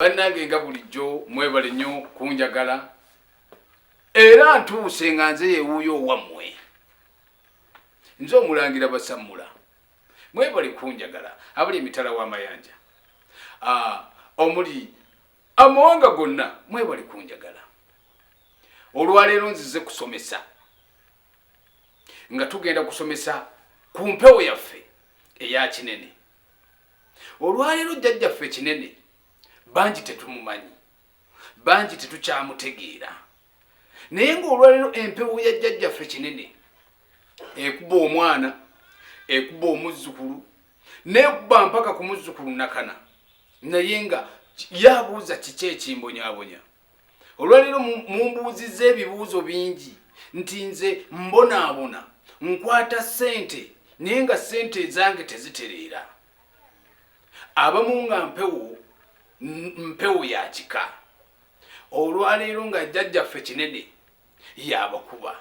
bannange nga bulijjo mwebale nnyo kunjagala era ntuuse nga nze yewuuyo owammwe nze omulangira basammula mwebale kunjagala abali emitala w'amayanja ah, omuli amawanga gonna mwebale kunjagala olwaleero nzize kusomesa nga tugenda kusomesa ku mpewo yaffe eya kinene Olwaleero jjajjaffe ekinene bangi tetumumanyi, bangi tetukyamutegeera, naye ng'olwaleero empewo ya jjajjaffe kinene ekuba omwana, ekuba omuzzukulu, nekuba mpaka ku muzzukulu nakana, naye nga yabuuza kiki ekimbonyabonya. olwaleero mumbuuzizza ebibuuzo bingi nti nze mbonaabona nkwata ssente naye nga ssente ezange tezitereera abamu nga mpewo mpewo ya kika olwaleero nga jjajjaffe kinene yabakuba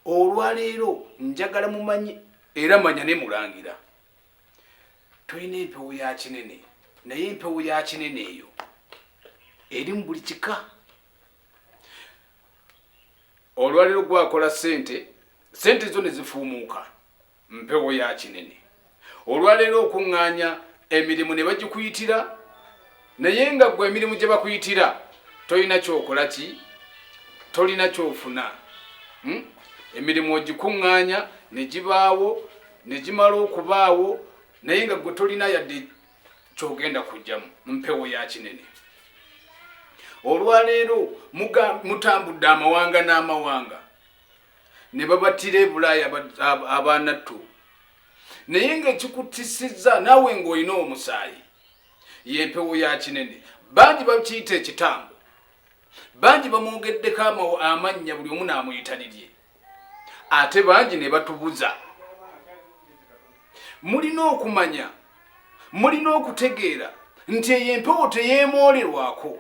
olwaleero njagala mumanyi era manya ne mulangira tulina empewo ya kinene naye empewo ya kinene eyo eri mu buli kika olwaliro gwakola sente sente zo ne zifuumuuka mpewo ya kinene olwaleero okuŋŋaanya emirimu ne bagikuyitira naye nga gwe emirimu gye bakuyitira tolina kyokola ki tolina kyofuna hmm? emirimu ogikuŋŋaanya ne gibaawo ne gimala okubaawo naye nga gwe tolina yadde kyogenda kujjamu mpewo ya kinene olwaleero mutambudde amawanga n'amawanga ne babatira ebulaaya abaanattu naye nga ekikutisizza naawe ng'olina omusaayi Y'empewo ya kinene. Bangi bakiyita ekitambo. Bangi bamwogeddeko amannya buli omu n'amuyita lirye. Ate bangi ne batubuza. Mulina okumanya, mulina okutegeera nti eyo empewo teyeemoolerwako.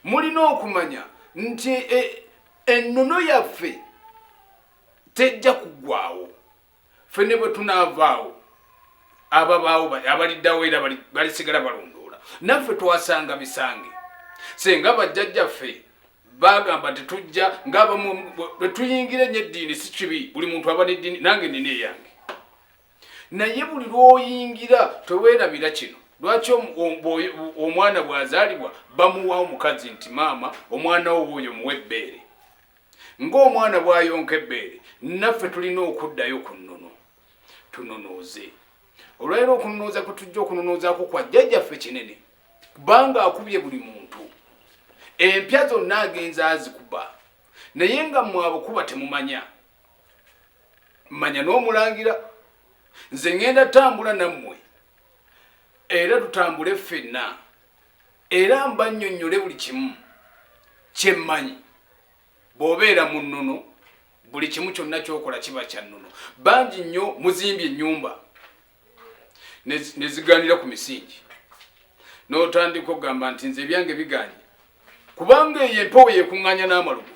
Mulina okumanya nti e, ennono yaffe tejja kuggwawo. Fene bwe tunaavaawo ababaawo abaliddawo era balisigala balondoola naffe twasanga bisange senga bajjajjaffe bagamba nti tujja ngaabamu bwe tuyingira enyo eddiini si kibi buli muntu aba neddiini nange nina eyange naye buli lwoyingira teweerabira kino lwaki omwana bwazaalibwa bamuwa omukazi nti maama omwana wo oyo muwa ebbeere Ng'omwana bw'ayonka ebbeere, naffe tulina okuddayo ku nnono tununuuze. Olwaleero okununuuza kwe tujja okununuuzaako kwa jjajjaffe kinene kubanga akubye buli muntu. Empya zonna agenza azikuba naye nga mmwe abukuba temumanya. Mmanya n'omulangira nze ŋŋenda tambula nammwe era tutambule ffenna. era mbannyonnyole buli kimu kye mmanyi bw'obeera mu nnono buli kimu kyonna ky'okola kiba kya nnono bangi nnyo muzimbye ennyumba ne zigaanira ku misingi n'otandika okugamba nti nze ebyange biganye kubanga eyo empewo yekuŋŋanya n'amalugu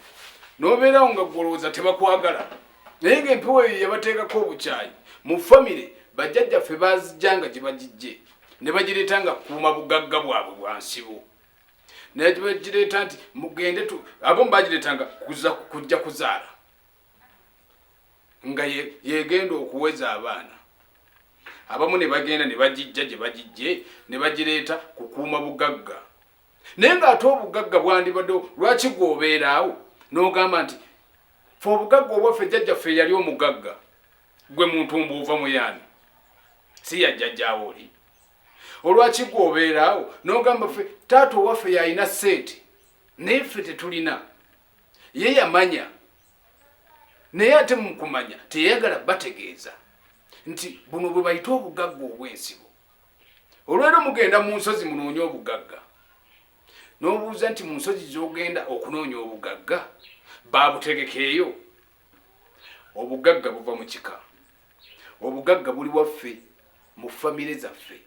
n'obeerawo nga gwolowooza tebakwagala naye ng'empewo eyo yabateekako obukyayi mu famire bajjajjaffe baazijja nga gye bagijje ne bagireeta nga kuuma bugagga bwabwe bwa nsibo naye bagireeta nti mugende tu abamu bagireetanga kuza kujja kuzaala nga yegenda okuweza abaana abamu ne bagenda ne bagijja gye bagijje ne bagireeta kukuuma bugagga naye ng'ate obugagga bwandibaddewo lwaki gwe obeeraawo n'ogamba nti fe obugagga obwaffe jjajjaffe eyali omugagga gwe muntu mbuuva muyaani si yajjajjaawo oli olwaki gwe obeeraawo n'ogamba fe taata owaffe yalina ssente naye ffe tetulina ye yamanya naye ate mukumanya teyayagala bategeeza nti buno bwe bayita obugagga obw'ensibo olwero mugenda mu nsozi munoonye obugagga n'obuuza nti mu nsozi z'ogenda okunoonya obugagga baabutegekeeyo obugagga buva mu kika obugagga buli waffe mu famire zaffe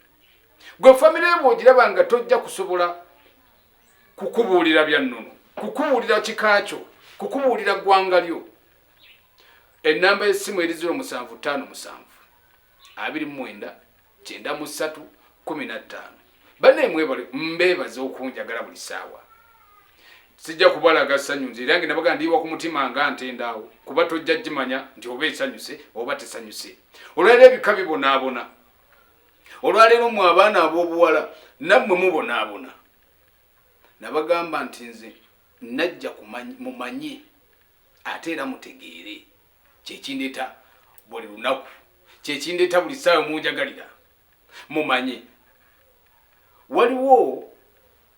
gwe famire ebwe ogiraba nga tojja kusobola kukubuulira bya nnono kukubuulira kika kyo kukubuulira ggwanga lyo ennamba y'essimu eri 0 musanvu 5 musanvu abiri mu mwenda kyenda mu ssatu kumi na ttaano bannaye mwebale mbeebaza okunjagala buli ssaawa sijja kubalaga ssanyu nze erange nabaga ndiiwa ku mutima nga ntendaawo kuba tojja kimanya nti oba esanyuse oba tesanyuse olwaliro ebika bibonaabona olwaleero mu abaana ab'obuwala nammwe mubonaabona nabagamba nti nze najja mumanye ate era mutegeere kyekindeeta buli lunaku kyekindeeta buli ssaawa munjagalira mumanye waliwo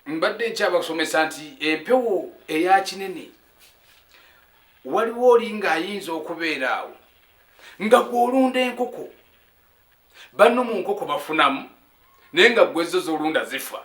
mbadde nkyabasomesa nti empewo eya kinene waliwo oli ng'ayinza okubeera awo nga gwolunda enkoko banno mu nkoko bafunamu naye nga gwezzo zolunda zifa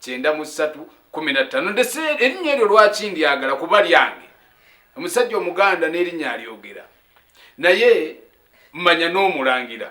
kyenda mu ssatu kumi na ttaano ndese erinnya eryo lwaki ndyagala kuba lyange omusajja omuganda n'erinnya alyogera naye manya n'omulangira